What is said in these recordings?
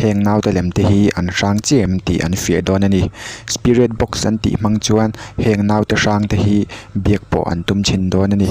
heng naute lem te hi an hrang chiah em tih an fiah dawn a ni spirit box an tih hmang chuan heng naute hrang te hi biak pawh an tum chhin dawn a ni.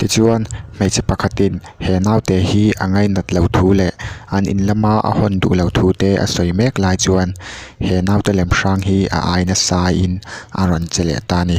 Tichuan, hmeichhe pakhatin he naute hi a ngainat lo thu leh an in lama a hawn duh lo thu te a sawi mek lai chuan he naute lem hrang hi a ai nasa in a rawn che leh ta a ni.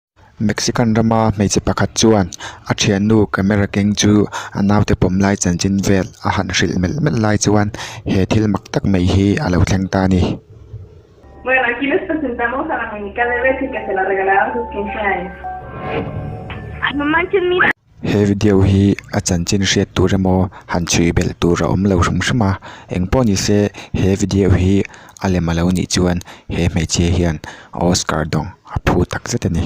Mexican rama hmeichhe pakhat chuan a thiannu camera keng chu a naute pawm lai chanchin vel a han hrilh melh melh lai chuan he thil mak tak mai hi a lo thleng ta a ni. He video hi a chanchin hriat tur emaw han chhui belh tur a awm lo hrim hrim a, eng pawh nise he video hi a lem a lo nih chuan he hmeichhia hian Oscar dawng a phu tak zet a ni.